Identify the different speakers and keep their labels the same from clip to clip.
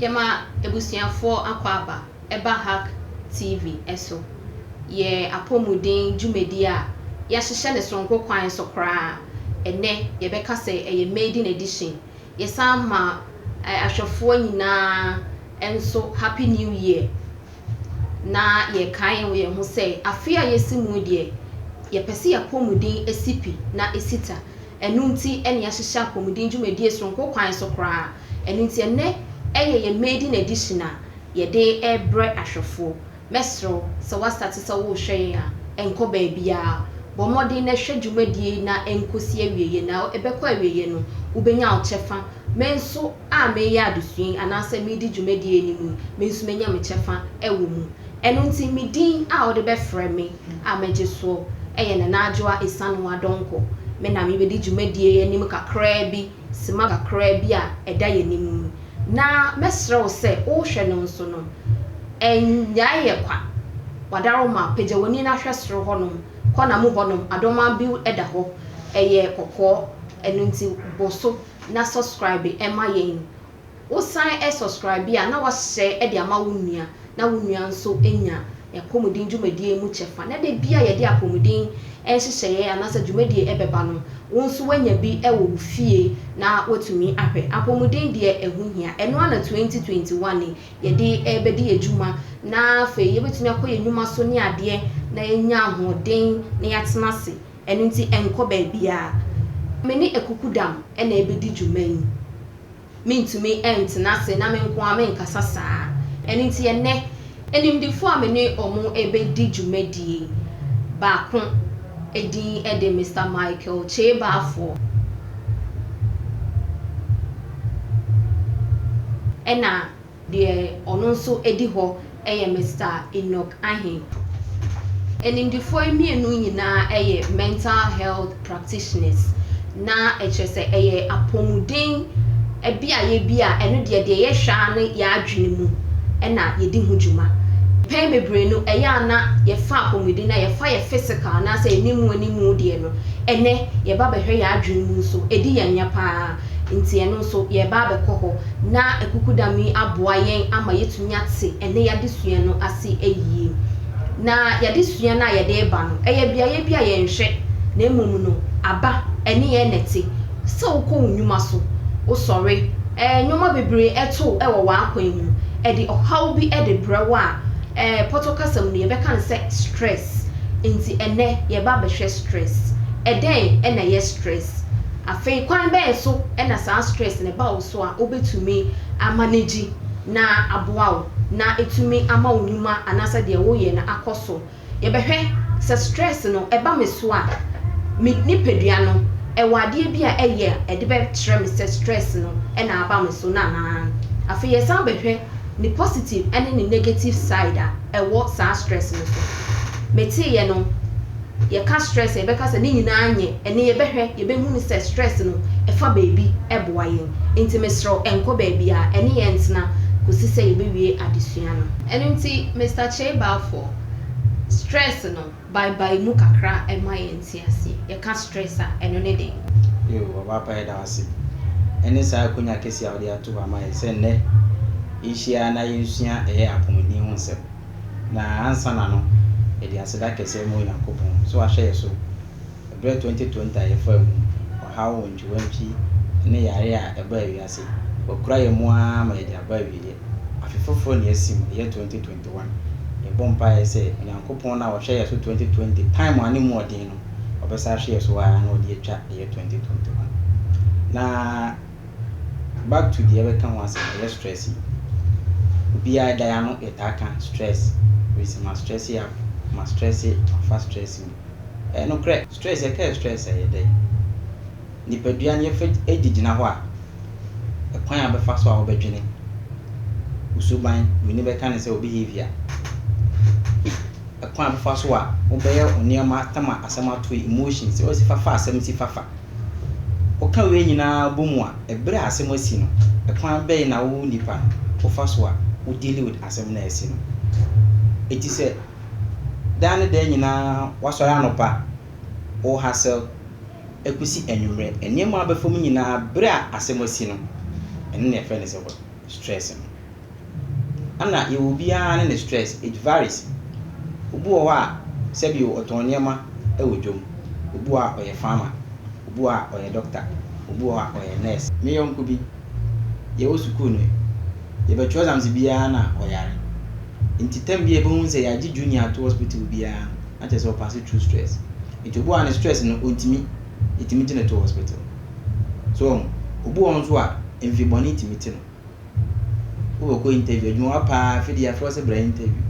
Speaker 1: Yɛma abusuafoɔ akwaaba ba Hack TV so. Yɛ apɔmuden dwumadie a yɛahyehyɛ no sononko kwan so koraa. Ɛnnɛ yɛbɛka sɛ ɛyɛ maiden edition. Yɛsan ma ahwɛfoɔ nyinaa nso Happy New Year. Na yɛkae yɛn ho sɛ afe a yɛasi mu deɛ, yɛpɛ sɛ yɛ apɔmuden si pi na ɛsi ta. Ɛno nti na yɛahyehyɛ apɔmuden dwumadie soronko kwan so koraa. Ɛno nti ɛnnɛ ɛyɛ yɛn maiden edition a yɛde rebrɛ ahwɛfoɔ. Mɛsrɛ wo sɛ woastate sɛ worehwɛ yɛn a, nkɔ baabiara. Bɔ mmɔden na hwɛ dwumadie yi na ɛnkɔsi awieeɛ na ɛbɛkɔ awieeɛ no wobɛnya wo kyɛfa. Me nso a mereyɛ adesua yi anaasɛ meredi dwumadie yi anim yi, me nso mɛnya me kyɛfa wɔ mu. Ɛno nti me din a wode bɛfrɛ me. a magye soɔ yɛ Nana Adwoa Esanwo Adonko. Me na mebɛdi dwumadie yi anim kakraa bi, sima kakraa bi a ɛda yɛn anim yi. Na mɛsrɛ wo sɛ wohwɛ no nso no, nnyae yɛ kwa. W'adaroma, pagya w'ani na hwɛ soro hɔnom, kɔ na mu hɔnom, Adomaa Bill da hɔ, ɛyɛ kɔkɔɔ, ɛno nti bɔ so na subscribe ma yɛn. wo san subscribe a na wahyɛ de ama wo nua na wo nua nso nya apɔmuden dwumadie mu kyɛfa na da bi a yɛde apɔmuden nhyehyɛeɛ anaasɛ dwumadie ɛbɛba no wo nso wanya bi wɔ wo fie na watumi ahwɛ. Apɔmuden deɛ ɛho hia. Ɛno ara na 2021 yi yɛde rebɛdi adwuma na afei yɛbɛtumi akɔ yɛn nnwuma so ne adeɛ na yɛanya ahoɔden na yɛatena ase. Ɛno nti ɛnkɔ baabiara. Me ne akukudam na ɛbɛdi dwuma yi. Mentumi ntena ase na me nko ara menkasa saa. Ɛno nti ɛnnɛ, animdefoɔ a me ne wɔn rebɛdi dwumadie yi baako din de Mister Michael Kyeebaafoɔ. Ɛna. Deɛ ɔno nso di hɔ yɛ Mister Enoch Ahe. Animdefoɔ yi mmienu nyinaa yɛ mental health practitioners, na ɛkyerɛ sɛ ɛyɛ apɔmuden beaeɛ bi a ɛno deɛ, deɛ yɛhwɛ ara ne yɛn adwene mu na yɛdi ho dwuma. Mpɛn bebree no, ɛyɛ a na yɛfa apɔmuden no a, yɛfa yɛn physical anaasɛ yɛn animuanimu deɛ no, ɛnnɛ yɛba bɛhwɛ yɛn adwene mu nso, ɛdi yɛn ya pa ara. Enti ɛno nso, yɛreba abɛkɔ hɔ, na Akukudam yi aboa yɛn ama yɛatumi ate ɛnnɛ yɛn adesua no ase yie. Na yɛn adesua no a yɛde reba no, ɛyɛ beaeɛ bi a yɛnhwɛ, na mmom no, aba, ɛne yɛn na ɛte. Sɛ wokɔ wo nnwuma so, wosɔre, ɛɛ, nneɛma bebree to wo wɔ w'akwan mu, ɛde ɔhaw bi de brɛ wo a, ɛɛ, pɔtɔ kasa mu no, yɛbɛka no sɛ stress. Enti ɛnnɛ, yɛreba abɛhwɛ stress. Ɛdɛn na ɛyɛ stress? Afei kwan bɛn so na saa stress no ba wo so a wobɛtumi a manage na aboa wo na ɛtumi ama wo nnwuma anaasɛ deɛ woyɛ no akɔ so? Yɛbɛhwɛ sɛ stress no ɛba me so a me nipadua no ɛwɔ adeɛ bi a ɛyɛ a ɛde bɛkyerɛ me sɛ stress no na aba me so no anaa? Afei yɛsan bɛhwɛ ne positive ne ne negative side a ɛwɔ saa stress no so. Meteeɛ no. yɛka stress a yɛbɛka sɛ ne nyinaa nyɛ ɛne yɛbɛhwɛ yɛbɛhu no sɛ stress no ɛfa baabi ɛboa yɛn nti mesrɛ wo ɛnkɔ baabiara ɛne yɛn ntena kɔsi sɛ yɛbɛwie adesua no. Ɛno nti Mister Kyei Balfour stress no bae bae mu kakra ɛma yɛn te aseɛ yɛka stress a ɛno ne dɛn. Yoo ɔbaapa
Speaker 2: yɛda wo ase ɛne saa akonya kɛseɛ a wode ato hɔ ama yɛn sɛ nnɛ yɛhyia na yɛnsua ɛyɛ apɔmuden ho nsɛm. Na ansana no, yɛde aseda kɛse rema Onyankopɔn sɛ wahwɛ yɛn so bere 2020 a yɛfaa mu ɔhaw wantwiwantwi ne yare a ɛbaa wiase. Wakura yɛn mu ara ma yɛde aba awieeɛ. Afe foforo na yɛasi mu, ɛyɛ 2021. Yɛbɔ mpaeɛ sɛ Onyankopɔn no a ɔhwɛɛ yɛn so 2020 time a na emu ɔden no, ɔbɛsan ahwɛ yɛn so ara na ɔde atwa ɛyɛ 2021. Na. Back to deɛ yɛbɛka ho asɛm no, ɛyɛ stress yi. Obiara da yi ano yɛtaa ka stress, wei sɛ ma stress up, ma stress, mafa stress mu. Ɛyɛ nokorɛ, stress, yɛka yɛ stress a ɛyɛ dɛ? Nipadua no yɛfa di gyina hɔ a, ɛkwan a wobɛfa so a wobɛdwene, wo suban, w'ani bɛka no sɛ wo behaviour, ɛkwan a wobɛfa so a wobɛyɛ wo nneɛma, tam a asɛm ato yi, emotions, woasi fafa asɛm si fafa. Woka wei nyinaa bɔ mu a, ɛberɛ a asɛm asi no, ɛkwan bɛn na wo nipa no wofa so a wo deal with asɛm no a asi no? Eti sɛ daa ne daa nyinaa woasɔre anɔpa, wo hustle ɛkosi anwummerɛ, nneɛma a wobɛfa mu nyinaa berɛ a asɛm asi no, ɛno na yɛfrɛ no sɛ work. stress no. Ana yɛwɔ obiara ne ne stress, it varies. Obi wɔ hɔ a sɛbio ɔtɔn nneɛma wɔ dwom, obi wɔ hɔ a ɔyɛ farmer, obi wɔ hɔ a ɔyɛ doctor, obi wɔ hɔ a ɔyɛ nurse. Me yɔnko bi, yɛwɔ sukuu no, yɛbɛtwerɛ exams biara na ɔyare. Nti term bi a yɛbɛhu ne sɛ yɛagye junior ato hospital biara no, na kyerɛ sɛ ɔpase through stress. Nti obi wɔ hɔ a ne stress no ɔntumi, yɛtumi gye no to hospital. So woahu? Obi wɔ hɔ nso a, mfe bɔne tumi te no. Wobɛkɔ interview, adwuma wa paa, afei de yɛafrɛ wo sɛ bra interview.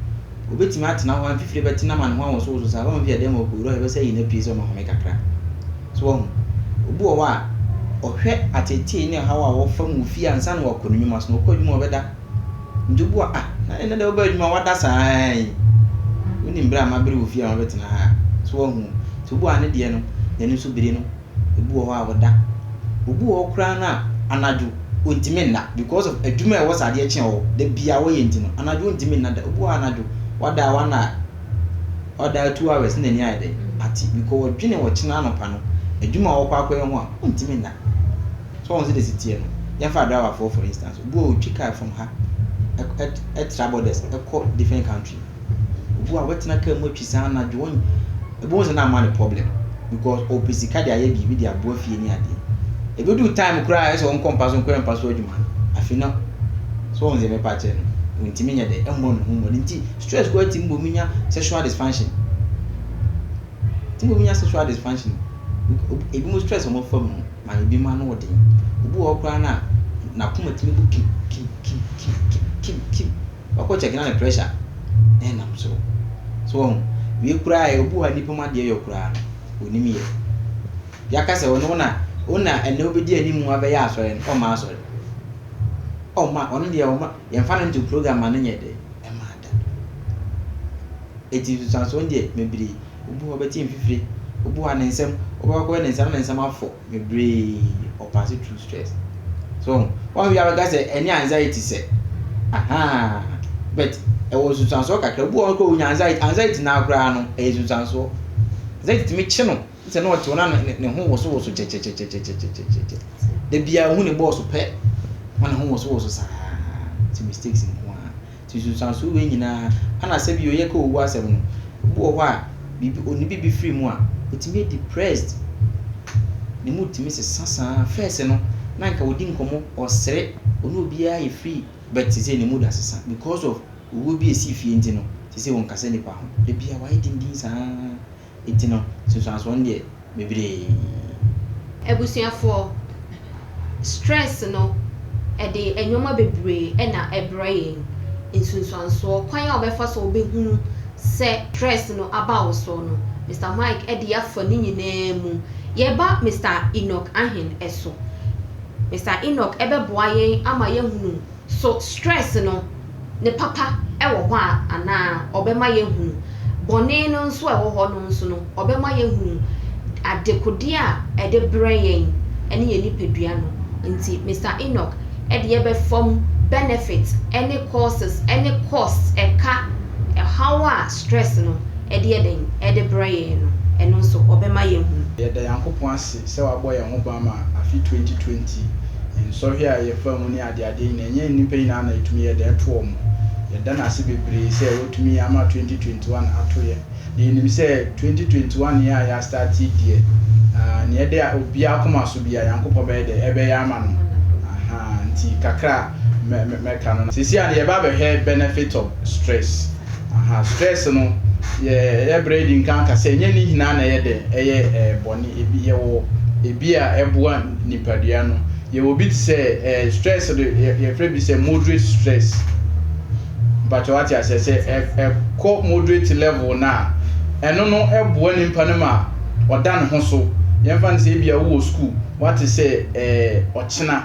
Speaker 2: Obetumi atena hɔ a, mfifire bɛtena ma ne ho awosowoso saa. Woahu? Afei adan mu akowura hɔ, ɛbɛsɛ ayi n'apii sɛ ɔmmɛhome kakra. So woahu? Obi wɔ hɔ a, ɔhwɛ ateetee ne ɔhaw a wɔfa mu fie ansa na wakɔ ne nnwuma so, na ɔkɔ adwuma a ɔbɛda. Nti obi wɔ hɔ a, ah, na ɛnnɛ deɛ wobaa adwuma a, woada saa ara yi. Wonim bere a mabere wo fie a mabɛtena ha a. So woahu? Nti obi wɔ hɔ a, ne deɛ no, n'ani so bere no. Ebi wɔ hɔ a ɔda. Obi wɔ hɔ koraa no a, anadwo ɔntumi nna because of adwuma a ɛwɔ sɛ adeɛ kye wɔ hɔ da biara wɔyɛ nti no, anadwo ɔntumi nna da. Obi wɔ hɔ a anadwo wada one hour, wada two hours na n'ani ayɛ dɛn ate because ɔdwene ɔkyena anɔpa no adwuma a ɔrekɔ akɔyɛ ho a ɔntumi nna. So wɔn sɛ desi teɛ no, yɛmfa driverfoɔ for instance, obi wɔ hɔ ɔtwi car from ha ɛtra borders ɛkɔ different country. Obi wɔ hɔ a wɛtena car mu atwi saa anadwo wɔn ebi wɔn sɛ na ama ne problem because ɔpɛ sika de ayɛ biribi de aboa fie ne adeɛ ebi du time koraa ayɛ sɛ wɔn kɔ mpa so nkɔyɛ mpa so adwuma no afi no so wɔn sɛ mɛpa akyerɛ no ntumi nyɛ dɛ ɛmmɔ ne ho mmɔ ne nti stress koraa ti mbɔ mu nya sexual dysfunction ti mbɔ mu nya sexual dysfunction ebi mu stress wɔn afa mu ma ebi mu ano ɔden obi wɔ hɔ koraa na n'akoma tumi bu kim kim kim kim kim kim. wakɔ check na ne pressure ɛnam soro so wahu wie koraa yɛ obi wɔ ha nipa mu adeɛ yɔ koraa no onim yɛ yaka sɛ ɔno na ɔna ɛnɛ wobɛdi anim mu abɛyɛ asɔre no ɔma asɔre ɔma ɔno deɛ ɔma yɛmfa no nto program a no nyɛ dɛ ɛma ada ɛti nsusuansoɔ deɛ mebiri obi wɔ bɛte mfifire obi wɔ ne nsɛm wobɛkɔyɛ ne nsɛm ne nsɛm afɔ bebree ɔ pass through stress so wohu wɔn a bi a bɛka sɛ ɛnyɛ anxiety sɛ ahaa but ɛwɔ nsunsuansoɔ kakra obi wɔ hɔ kora onya anxiety anxiety naa koraa no ɛyɛ nsunsuansoɔ anxiety tumi kye no sɛ na ɔte hɔ na ne ho wosowoso kyɛkyɛkyɛkyɛkyɛkyɛkyɛkyɛ da biara ohu ne bɔɔso pɛ na ne ho wosowoso saa ti mistakes nko ara. Nti nsunsuanso wei nyinaa ana sɛ bio yɛka owu asɛm no obi wɔ hɔ a biribi onni biribi firi mu a otumi yɛ depressed ne mood tumi sesa saa first no na anka odi nkɔmmɔ ɔsere ɔne obiara yɛ free but sesei ne mood asesa because of owuo bi a esii fie nti no sesei ɔnkasa nnipa ho da biara wayɛ dindin saa. Nti no, nsunsuansoɔ no deɛ bebree. Abusuafoɔ,
Speaker 1: stress no, ɛde nnoɔma bebree na ɛbrɛ yɛn. Nsunsuansoɔ, kwan a wobɛfa so a wobɛhunu sɛ stress no aba wo so no, Mister Mike de afa ne nyinaa mu. Yɛba Mister Enoch Ahen so. Mister Enoch bɛboa yɛn ama yɛahunu. So stress no, ne papa wɔ hɔ a, anaa ɔbɛma yɛahunu bɔne no nso a ɛwɔ hɔ no nso no? Ɔbɛma yɛahunu adekodeɛ a ɛde brɛ yɛn ne yɛn nipadua no. Nti Mister Enoch de yɛbɛfa mu benefit ne causes ne costs ɛka ɛhaw a stress no de yɛ dɛn? Ɛde brɛ yɛn no, ɛno nso ɔbɛma yɛahunu. Yɛda Nyankopɔn ase
Speaker 3: sɛ wabɔ yɛn ho ban ma afe 2020 nsɔhwɛ a yɛfaa mu ne de adeɛ nyinaa. Ɛnyɛ nnipa nyinaa na ɛtumi yɛ dɛn to wɔn. Yɛda no ase bebree sɛ watumi ama 2021 ato yɛn. Na yɛnim sɛ 2021 yi a yɛastate yi deɛ, nea ɛde obiara akoma so biara, Nyankopɔn bɛyɛ dɛn? Ɛbɛyɛ ama no. Ahaa, nti kakra a mɛka no, seesei a yɛreba abɛhwɛ benefit of stress. Ahaa, stress no, yɛyɛ berɛ adi nkan aka sɛ ɛnyɛ ne nyinaa na ɛyɛ dɛn? Ɛyɛ bɔne. Ebi, yɛwɔ ebi a ɛboa nipadua no. Yɛwɔ bi te sɛ eh, stress no yɛ, yɛfrɛ bi sɛ moderate stress. Mpakyɛ wate aseɛ sɛ ɛ, ɛkɔ moderate level no a, ɛno no ɛboa nipa no ma ɔda ne ho so. Yɛmfa no sɛ ebia wowɔ sukuu, wate sɛ eh, ɔkyena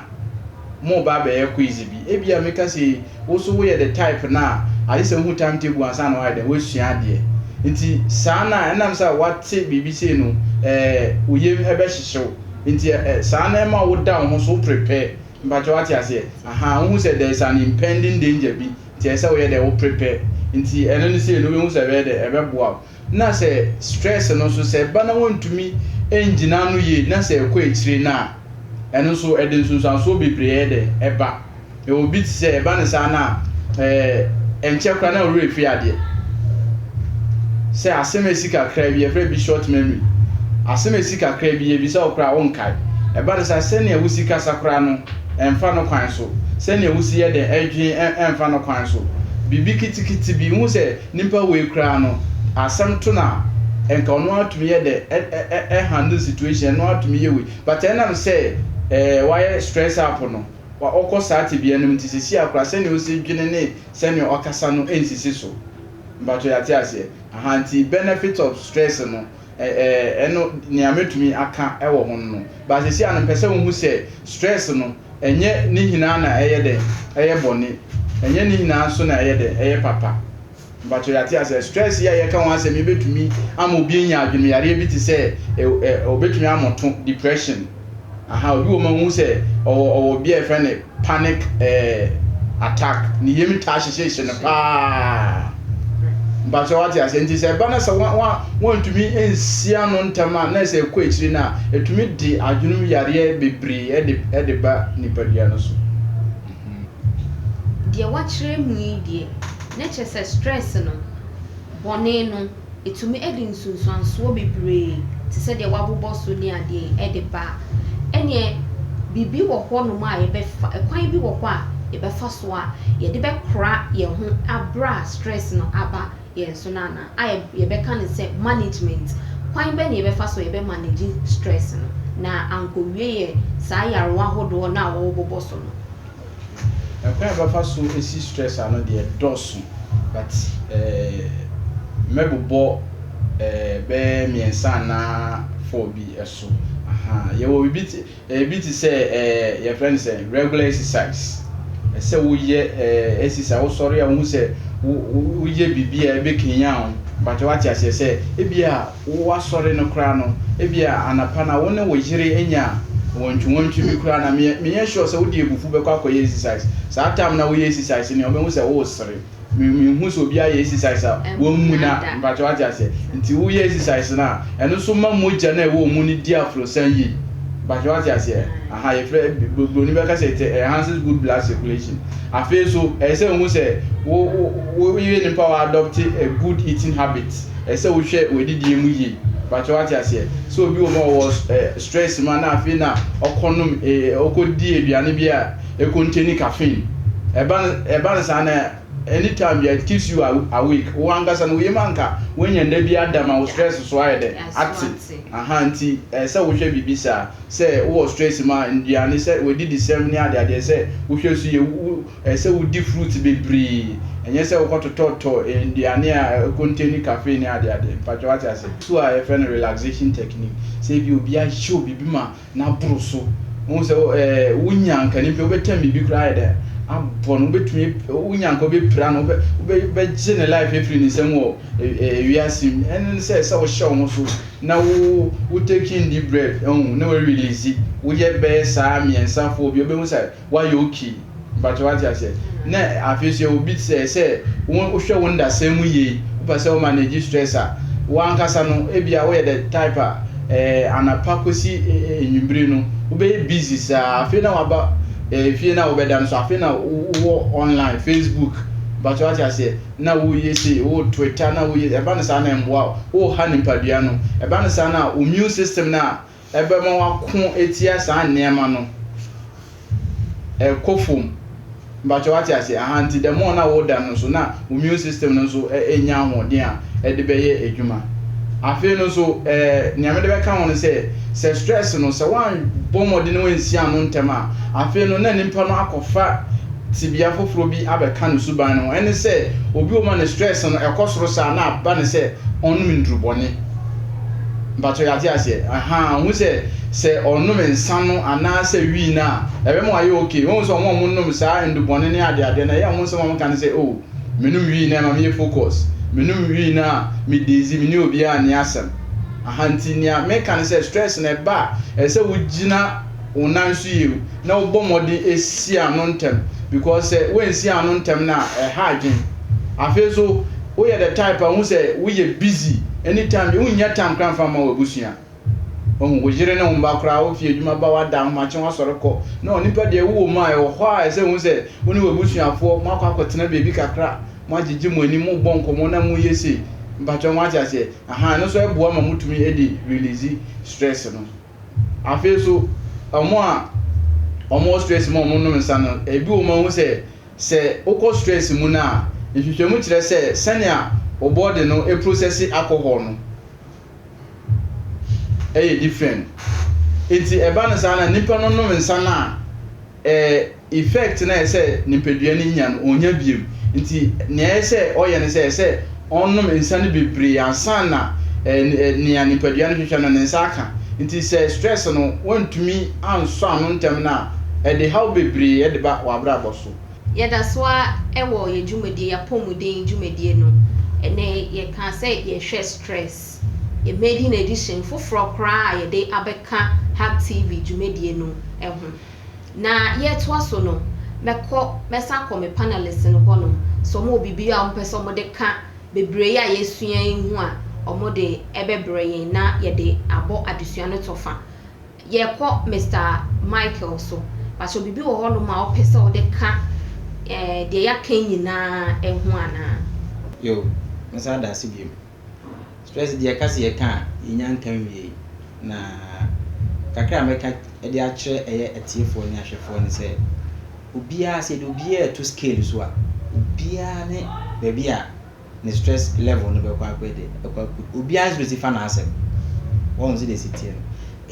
Speaker 3: moreba abɛyɛ quiz bi. Ebia meka sei, wo so woyɛ the type no a, agye sɛ wohu time table ansa na woayɛ dɛn, woasua adeɛ. Nti saa no a, ɛnam sɛ wate biribi sei no eh, wo yam ɛbɛhyehye wo. Nti ɛ ɛ saa na ɛma wo da wo ho so, wo prepare. Mpakyɛ wate aseɛ? Ahaa, wohu sɛ there is an impending danger bi, nti ɛsɛ sɛ woyɛ dɛ wo prepare. Nti ɛno no sei no wobɛhu sɛ ɛbɛyɛ dɛ, ɛbɛboa wo. Na sɛ stress no nso, sɛ ɛba na woantumi angyina ano yie na sɛ ɛkɔ akyire no a, ɛno nso ɛde nsunsuansoɔ bebree ɛyɛ dɛn? Ɛba. Yɛwɔ obi te sɛ ɛba no saa no a, ɛɛ, ɛnkyɛ koraa na wo werɛ fi adeɛ. Sɛ asɛm a ɛsi kakra bi, yɛfrɛ bi short memory. Asɛm a ɛsi kakra bi, yɛbisa wo koraa a, wonkae. Ɛba no saa, sɛnea wosi kasa koraa no, ɛmfa no kwan so. Sɛnea wosi yɛ dɛn dwen, ɛ, ɛmfa no kwan so. Biribi ketekete bi, wohu sɛ nipa wei koraa no, asɛm to no a, ɛnka ɔno ara tumi yɛ dɛn, ɛ, ɛ, ɛ, ɛ handle situation, ɛno ara tumi yɛ wei. But ɛnam sɛ, ɛɛ, wayɛ stress up no, a ɔkɔ saa tebea no mu te sɛ Sia koraa, sɛnea osi dwene ne sɛnea ɔkasa no nsisi so. Mpakyɛw yɛate aseɛ? Aha, nti benefit of stress no, ɛ, ɛ, ɛno, nea mɛtumi aka wɔ ho no no. But sɛsi ano mpɛ sɛ wohu sɛ stress no, ɛnyɛ ne nyinaa na ɛyɛ dɛn? Ɛyɛ bɔne. Ɛnyɛ ne nyinaa nso na ɛyɛ dɛn? Ɛyɛ papa. Mpakyɛw yɛate asɛ stress yi a yɛka ho asɛm yi betumi ama obi anya adwenemyareɛ bi te sɛ ɛ ɛ obetumi amoto, depression. Aha obi wɔ mu a wohu sɛ ɔwɔ ɔwɔ bi a yɛfrɛ no panic ɛ ɛ attack. Ne yam taa hyehyehyehye no paa. Mpakyɛw wate asɛ nti sɛ ɛba na sɛ wa wa wantumi ansi ano ntɛm a na sɛ ɛkɔ akyiri no a etumi de adwenemyareɛ bebree ɛde ɛde ba nipadua no so.
Speaker 1: Deɛ wakyerɛ mu yi deɛ, na kyerɛ sɛ stress no, bɔne no, ɛtumi de nsunsuansoɔ bebree te sɛ deɛ wɔabobɔ so ne adeɛ de ba. Ɛnneɛ biribi wɔ hɔnom a yɛbɛfa, ɛkwan bi wɔ hɔ a yɛbɛfa so a yɛde bɛkora yɛn ho berɛ a stress no aba. yɛn so no anaa? A Yɛbɛka no sɛ management. Kwan bɛn na yɛbɛfa so a yɛbɛ manage stress no na ankowie yɛ saa yarewa ahodoɔ no a wɔwɔ bobɔ so no? Kwan a yɛbɛfa so
Speaker 3: asi stress ano deɛ dɔɔso but mɛbobɔ bɛyɛ mmiɛnsa anaa four bi so. Yɛwɔ biribi te. Ebi te sɛ ɛɛ yɛfrɛ no sɛn regular exercise. Ɛsɛ sɛ woyɛ ɛɛ exercise, wosɔre a wohu sɛ wo woyɛ biribi a ɛbɛkanyan wo. Mpakyɛ wate aseɛ sɛ ebia woasɔre no koraa no, ebia anapa no a wo ne wo yere anya wɔntwiwɔntwi bi koraa no a, menyɛ sure sɛ wode abufuo bɛkɔ akɔyɛ exercise. Saa time no a woyɛ exercise no deɛ wobɛhu sɛ woresere. me me hu sɛ obi ayɛ exercise a wɔn mu na mpakyɛw ate aseɛ nti woyɛ exercise no a ɛno nso ma mogya no a ɛwɔ mu no di aforosan yie mpakyɛw ate aseɛ aha yɛfrɛ buroni bɛka sɛ it enhances good blood circulation afei so ɛyɛ sɛ wohu sɛ wo wo woyɛ nipa wɔ adopt a good eating habit ɛyɛ sɛ wohwɛ w'adidie mu yie mpakyɛw ate aseɛ sɛ obi wɔ mu a ɔwɔ stress ma na afei na ɔkɔnom ɔkɔdi aduane bi a Ekonte ne caffeine. Ɛba no ɛba no saa na anytime bia it keeps you awake. Wo ankasa no wo yam anka woanya nna bi ada ma wo stress so ayɛ dɛn? Ate. Ahaa nti ɛsɛ sɛ wohwɛ biribi saa. Sɛ wowɔ stress mu a nnuane sɛ w'adidisɛm ne ade adeɛ sɛ wohwɛ so yie. Wo ɛsɛ sɛ wodi fruits bebree. Ɛnyɛ sɛ wokɔ totɔtɔ nnuane a ɛkonte ne caffeine ne ade adeɛ. Mpakyɛ wate aseɛ. So a yɛfrɛ no relaxation technique. Sɛ ebia obi ahyɛ wo biribi ma na aboro so. Wohu sɛ wonya anka no mpo wobɛtɛm biribi koraa ayɛ dɛ abɔ no, wobɛtumi wonya anka wobɛpira no, wobɛgye ne life afiri ne nsam wɔ wiase mu. Ɛno ne sɛ sɛ wohyɛ wo ho so na wo wo taking deep breath, na wo release, woyɛ bɛyɛ saa mmiɛnsa four bi a, wobɛhu sɛ Wayɛ okay. Mpakyɛw wate aseɛ? Na afei nso yɛwɔ bi te sɛ sɛ wo hwɛ wo ndasɛm mu yie, wo pɛ sɛ wo manage stress a, wo ankasa no ebia wo yɛ the type a eh anapa kɔsi eh anwummere no wo bɛyɛ busy saa afei na waba eh fie na wo bɛda no so afei na wo wɔ online facebook mpakyɛw wate aseɛ na wo yɛ sei wo twitter na wo yɛ ɛba no saa na ɛmmoa wo, wo ha nipadua no ɛba no saa no a wo immune system no a ɛbɛma wako atia saa nneɛma no ɛkɔ fam mpakyɛ wate ase aha nti the more na woda no nso na wo immune system no nso ɛnya ahoɔden a ɛde bɛyɛ adwuma afei no nso ɛɛ nea mede bɛka ho no sɛ sɛ stress no sɛ woanbɔ mmɔden no ansi ano ntɛm a afei no na nipa no akɔfa tibea foforɔ bi abɛka no suban no ho ɛne sɛ obi wɔ ma ne stress no ɛkɔ soro saa na aba ne sɛ ɔnom nnurubɔne Mpakyɛw yɛate aseɛ ahaa wohu sɛ sɛ ɔnom nsa no anaa sɛ wii no a ɛbɛma wayɛ ok wohu sɛ ɔmo a ɔmo nom saa ndubɔne ne adeadeɛ no ɛyɛ ɔmo nsɛm a ɔmo ka no sɛ oh menom wii no ɛma meyɛ focus menom wii no a me dazy me ne obiaa nni asɛm ahaa nti nea meka no sɛ stress no ɛba a ɛsɛ sɛ wogyina wo nan so yie o na wobɔ mmɔden si ano ntɛm because sɛ woansi ano ntɛm no a ɛha adwen afei nso woyɛ the type a wohu sɛ woyɛ busy anytime bi wonnya time kora mfa ma w'abusua wahu wo yere ne wo mma koraa wofi adwuma ba wada ahomakye wasɔre kɔ na onipa deɛ wowɔ mu a ɛwɔ hɔ a ɛsɛ wohu sɛ wo ne w'abusuafoɔ moakɔ akɔtena baabi kakra moagyegye mo ani mobɔ nkɔmmɔ na moyɛ sei mpakyɛ ho ate aseɛ aha ɛno nso ɛboa ma motumi de release stress no Afei nso wɔn a wɔwɔ stress mu a wɔnom nsa no, ebi wɔ mu a wohu sɛ, sɛ wokɔ stress mu no a, nhwehwɛmu kyerɛ sɛ sɛnea wo body no process alcohol no yɛ different. Enti ɛba no saa no a, nnipa no nom nsa no a, ɛɛ effect no a ɛsɛ nipadua no nya no, ɔnnya bio. Nti nea ɛyɛ sɛ ɔyɛ ne sɛ, ɛsɛ ɔnom nsa no bebree ansa na ɛɛ nea nipadua no hwehwɛ no, ne nsa aka. Nti sɛ stress no wantumi ansɔ ano ntɛm no a, ɛde haw bebree de ba w'abrabɔ so. Yɛda so
Speaker 1: ara wɔ yɛn dwumadie, yɛn apɔmuden dwumadie no. Ɛnnɛ yɛkaa sɛ yɛhwɛ stress. Yɛn maiden edition foforɔ koraa a yɛde abɛka HACTV dwumadie no ho. Na yɛretoa so no, mɛkɔ, mɛsan akɔ me panelists no hɔnom sɛ wɔwɔ biribi a wɔpɛ sɛ wɔde ka bebree a yɛasua yi ho a, wɔde bɛbrɛ yɛn na yɛde abɔ adesua no kyɔfa. Yɛkɔ Mister Michael so. Pakyɛ biribi wɔ hɔnom a wopɛ sɛ wode ka eh, deɛ yɛaka yi nyinaa ho anaa? Yoo,
Speaker 2: mɛsan ada ase bio. Stress deɛ yɛka sɛ yɛka a, yɛnya nka nwie. Na kakra a mɛka de akyerɛ ɛyɛ atiefoɔ ne ahwɛfoɔ ne sɛ, obiara sɛ yɛde obiara reto scale so a, obiara ne baabi a ne stress level no bɛkɔ akɔ ɛde ɛkɔ akɔ. Obiara nso bɛsi fa n'asɛm. Wɔn sɛ deɛ ɛsi teɛ no.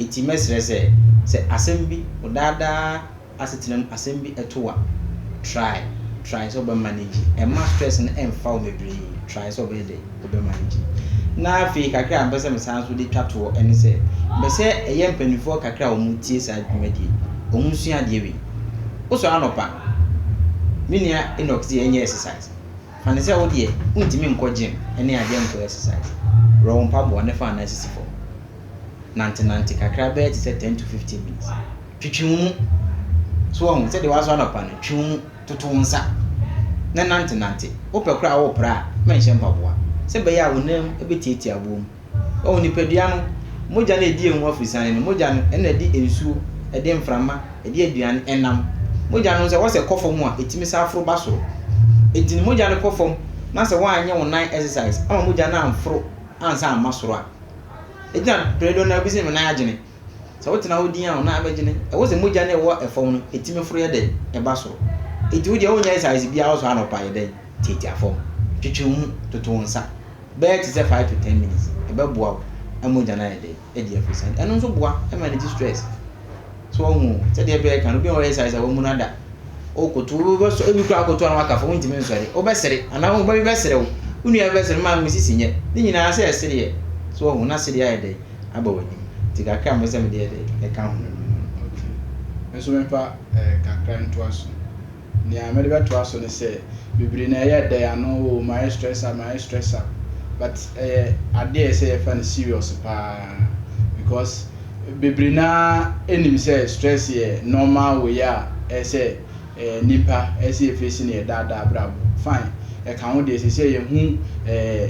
Speaker 2: Enti mɛsrɛ sɛ, sɛ asɛm bi, ɔdaadaa asetena mu asɛm bi to wo a, try, try sɛ wobɛ manage, ɛmma stress no ɛmfa wo bebree, try sɛ wobɛyɛ dɛ, wobɛ manage. Na afei kakra a mepɛ sɛ mesan nso de twa toɔ ɛne sɛ, mepɛ sɛ ɛyɛ mpanimfoɔ kakra a wɔn tie saa dwumadie, wɔn nsua adeɛ wei. Wosɔre anɔpa, me nua Enoch deɛ ɛnyɛ exercise, fa no sɛ wo deɛ wontumi nkɔ gym ɛne adeɛ nkɔ yɛ exercise, worɔ wo mpaboa na fa wo nan sisi fam, nante nante kakra bɛyɛ te sɛ ten to fifteen minutes. Twitwi wo mu. So woahu? Sɛdeɛ woasɔre anɔpa no, twi wo mu, toto wo nsa, na nantenante. Wopɛ koraa a, worepra a, ma nhyɛ mpaboa, sɛ ɛbɛyɛ a wo nan bɛtiatia aboɔ mu. Wahu? Nipadua no, mogya no a ɛdi yɛn ho afirisane no, mogya no, ɛna ɛde nsuo, ɛde mframa, ɛde aduane, ɛnam. Mogya no nso, ɛwɔ sɛ ɛkɔ fam a, ɛtumi san foro ba soro. Enti no, mogya no kɔ fam, na sɛ woanyɛ wo nan exercise ama mogya no amforo ansa amma soro a, ɛgyina Prɛdɔn na wobɛsi me nan agyene. Sɛ wotena hɔ dinn a, wo nan bɛgye no. Ɛwɔ sɛ mogya no a ɛwɔ fam no, etumi foro yɛ dɛ ba soro. Enti wo deɛ wonyɛ exercise biara wosɔre anɔpa yɛ dɛn? Tiatia fam. Twetwe wo mu. Toto wo nsa. Bɛyɛ te sɛ five to ten minutes. Ɛbɛboa wo ma mogya no ayɛ dɛ adi afiri sane. Ɛno nso boa ma ɛregye stress. So wahu o? Sɛdeɛ ɛbɛyɛ ka no, obi a wayɛ exercise a wammu no ada. Wokoto, wobɛsɔ, ebi koraa wokoto a na waka fa, wontumi nsɔre. Wobɛsere, anaa wo ba bi bɛsere wo, wo nua bi bɛsere wo, maame wo sisi nyɛ. Ne nyinaa sɛ ɛsereɛ. So wahu? Na sereɛ ayɛ dɛ. aba w'anim, nti kakra a mepɛ sɛ mede yɛ de, meka ho. Ok. Me
Speaker 3: nso memfa kakra ntoa so. Nea mede bɛtoa so ne sɛ, bebree no ɛyɛ dɛ, ano oo, mayɛ stress up, mayɛ stress up, but ɛyɛ adeɛ a ɛsɛ yɛfa no serious paa because bebree no ara nim sɛ stress yɛ normal way a ɛsɛ. Eh nipa ɛsɛ yɛ face no yɛ daa daa abrabɔ fine ɛka ho deɛ ɛsɛ sɛ yɛ hu eh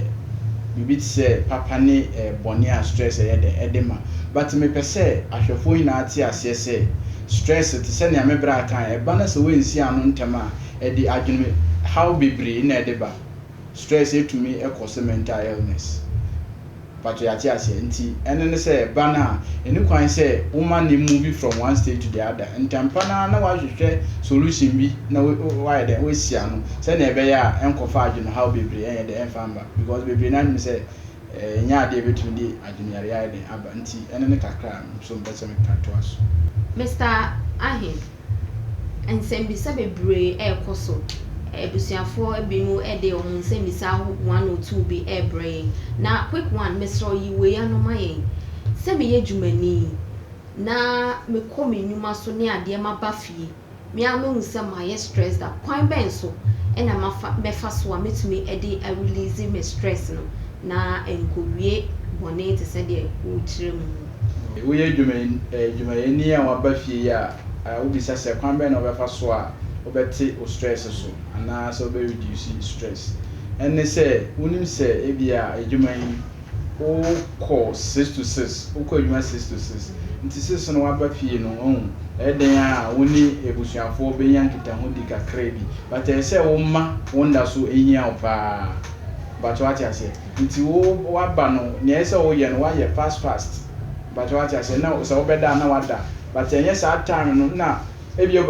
Speaker 3: biribi te sɛ papa ne eh bɔne a stress ɛyɛ dɛn ɛde ma but me pɛ sɛ ahwɛfoɔ nyinaa te aseɛ sɛ stress te sɛ nea me braa kae ɛba na sɛ woansi ano ntɛm a ɛde adwene haw bebree na ɛde ba stress ɛtumi ɛkɔse mental illness. Mpakyɛ yɛate aseɛ nti ɛno ne sɛ ba no a ɛni kwan sɛ woma no move from one state to the other ntɛmpa no ara na wahwehwɛ solution bi na wayɛ dɛn wasi ano sɛnea ɛbɛyɛ a ɛnkɔfa adwenehaw bebree ɛnyɛ dɛn ɛmfa mma because bebree no ara nim sɛ ɛnyɛ adeɛ ɛbɛtumi de adweneyareɛ ayɛ dɛn aba nti ɛno ne kakra a nso mpɛ sɛ meka toa so. Mister
Speaker 1: Ahim, Nsɛmmisa bebree rekɔ so. Abusuafoɔ binom de wɔn nsɛmmisa aho one or two bi rebrɛ yɛn. Na quick one, mesrɛ wo yi wei ano ma yɛn. Sɛ meyɛ dwumani na mekɔ me nnwuma so ne adeɛ maba fie, me ara mahu sɛ mayɛ stressed up. Kwan bɛn so na mafa mɛfa so a mɛtumi de arelease me stress no na ɛnkɔwie bɔne te sɛ deɛ wokyerɛ mu no? Woyɛ
Speaker 3: adwumayɛni a woaba fie yi a, wobisa sɛ kwan bɛn na wobɛfa so a wobɛte wo stress so anaasɛ wobɛ reduce stress. Ɛne sɛ wonim sɛ ebia adwuma yi wokɔ six to six, wokɔ adwuma six to six nti six no woaba fie no wahu ɛyɛ dɛn a wo ne abusuafoɔ bɛnya nkitahodi kakra bi but ɛyɛ sɛ woma wo nda so hia wo paa but woate aseɛ. Nti wo w'aba no nea ɛsɛ sɛ wo yɛ no w'ayɛ fast fast mpakyɛw w'ate aseɛ na sɛ wo bɛda a na w'ada but ɛnyɛ saa time no na ebi a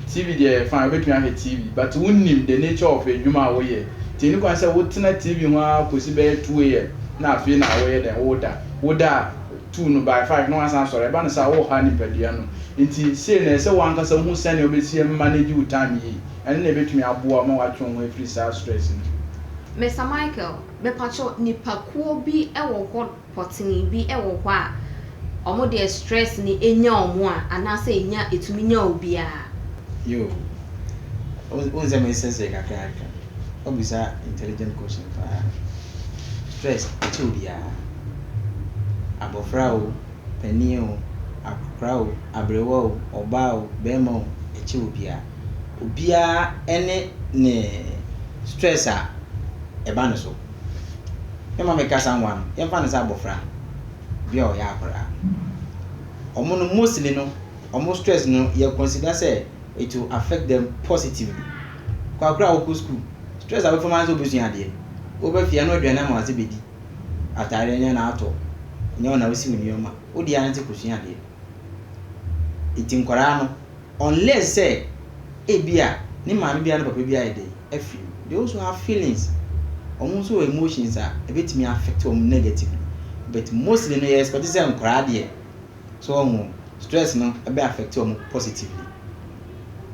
Speaker 3: TV deɛ ɛyɛ fine wobɛtumi ahwɛ TV but wo nim the nature of adwuma a wo yɛ nti ɛni kwan sɛ wo tena TV ho ara kɔsi bɛyɛ two AM na afei na wo yɛ dɛn wo da wo da a two no by five na w'asan asɔre ɛba no saa wo ha nipadua no nti sei no ɛsɛ sɛ wo ankasa wo hu sɛnea wo bɛsi manage wo time yie. Ɛno na ɛbɛtumi aboa wo ma woatwe wo ho afiri saa stress no mu. Mister Michael,
Speaker 1: mepakyɛw nnipakuo bi wɔ hɔ pɔtee bi wɔ hɔ a, wɔn deɛ stress no nya wɔn a, anaasɛ ɛnya ɛtumi nya obiara? Yoo.
Speaker 2: Wohu sɛ meresɛsɛe kakra kakra. Woabisa intelligent question paa. Stress ɛkyɛ obiara. Abɔfra o, panin o, akɔkora o, aberewa o, ɔbaa o, barima o, ɛkyɛ obiara. obiara ne ne stress a ɛba no so. Mɛma meka samoa no, yɛmfa no sɛ abɔfra bi a ɔyɛ akwadaa. Wɔn no mostly no, wɔn stress no yɛ consider sɛ it will affect them positively. Kwakora a wokɔ school, stress a wobɛfa mu ara sɛ wobɛsua adeɛ. Woba fie a, ɛno aduane ama w'ase bɛdi. Ataadeɛ nyɛ na atɔ, nyɛ wo na wosi wo nneɛma. Wode ara ne sɛ kɔsua adeɛ. Nti nkwadaa no. Unless sɛ ebia ne maame biara ne papa biara yɛ dɛn afi mu. They also have feelings, wɔn nso wɔ emotions a ɛbɛtumi affect wɔn negatively but mostly no yɛ expect sɛ nkwadaa deɛ so wɔn ho stress no ɛbɛ affect wɔn positively.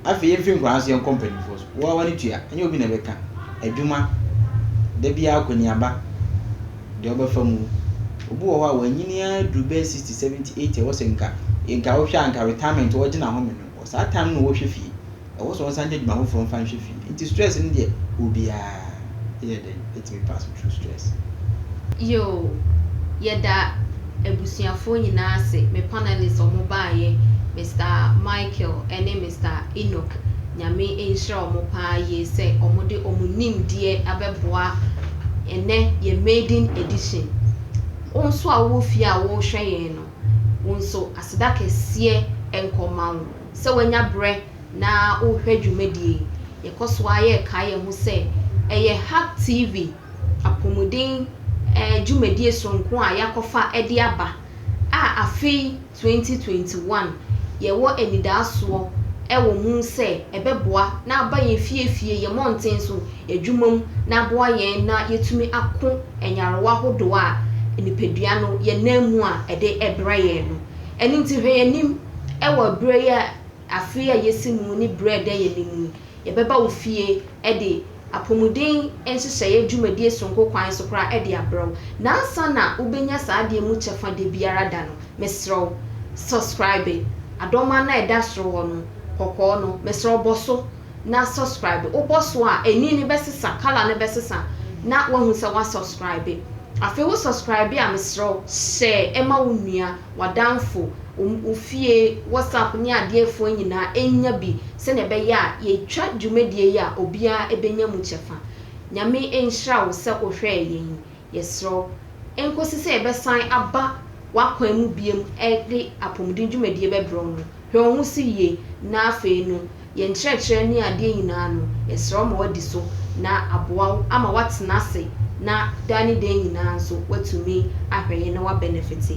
Speaker 2: Afei yɛmfiri nkwadaa nso yɛnkɔ mpanimfoɔ so, wo ara w'ani tua, ɛnyɛ obi na ɛbɛka, adwuma, da biara akɔniaba. deɛ wobɛfa mu. Obi wɔ hɔ a wanyini ara duru bɛyɛ sixty, seventy, eighty ɛwɔ sɛ nka nka wohwɛ a nka retirement wɔregye no ahome no wɔ saa time no na wɔrehwɛ fie. Ɛwɔ sɛ wɔsan gye adwuma foforɔ mfa nhwɛ fie. Nti stress no deɛ obiara yɛ dɛn ɛtumi pass through stress. Yoo
Speaker 1: yɛda. abusuafoɔ nyinaa ase, me panelists a wɔbaeɛ, Mister Michael ne Mister Enoch, Nyame nhyira wɔn paa yie sɛ wɔde wɔn nimdeɛ abɛboa ɛnnɛ yɛn maiden edition. Wo nso a wowɔ fie a worehwɛ yɛn no, wo nso aseda kɛseɛ nka ɔma wo sɛ woanya berɛ na worehwɛ dwumadie yi. Yɛkɔ so ara yɛrekae yɛn ho sɛ ɛyɛ Hub TV apomuden dwumadie soronko a yɛakɔfa de aba a afe yi, 2021, yɛwɔ anidaasoɔ wɔ mu sɛ ɛbɛboa na aba yɛn fie fie, yɛn mmɔnten so adwuma mu na aboa yɛn na yɛatumi ako nyarewa ahodoɔ a nipadua no yɛnam mu a ɛde brɛ yɛn no. Ɛno nti hwɛ yɛn anim wɔ berɛ yi a, afe yi a yɛasi mu ne berɛ a ɛda yɛn anim yi. Yɛbɛba wo fie de apɔmuden nhyehyɛeɛ dwumadie sononko kwan so koraa de abrɛ wo. Na ansa na wobɛnya saa adeɛ mu kyɛfa da biara da no, mesrɛ wo, subscribe adɔma no a ɛda soro hɔ no, kɔkɔɔ no, mesrɛ wo bɔ so na subscribe. Wobɔ so a, ani no bɛsesa, colour no bɛsesa na woahu sɛ woasubscribe. Afei wo subscribe a, mesrɛ wo, hyɛ ma wo nua. w'adamfo, wo wo fie, WhatsApp ne adeɛ afuwa nyinaa ɛnya bi sɛdeɛ ɛbɛyɛ a yɛtwa dwumadie yi a obiara ɛbɛnya mu kyɛfa. Nyame nhyira wo sɛ wo hwɛɛ yɛn yi. Yɛsrɛ wo ɛnkɔsi sɛ yɛbɛsan aba w'akwan mu biom ɛde Apomuden dwumadie bɛbrɛ wo no, hwɛ wo ho so yie na afei no yɛn nkyerɛkyerɛ ne adeɛ nyinaa no yɛsrɛ wo ma w'adi so na aboa wo ama w'atena ase na daa ne daa nyinaa nso w'atumi ahwɛ yɛn na w'abɛnɛfete.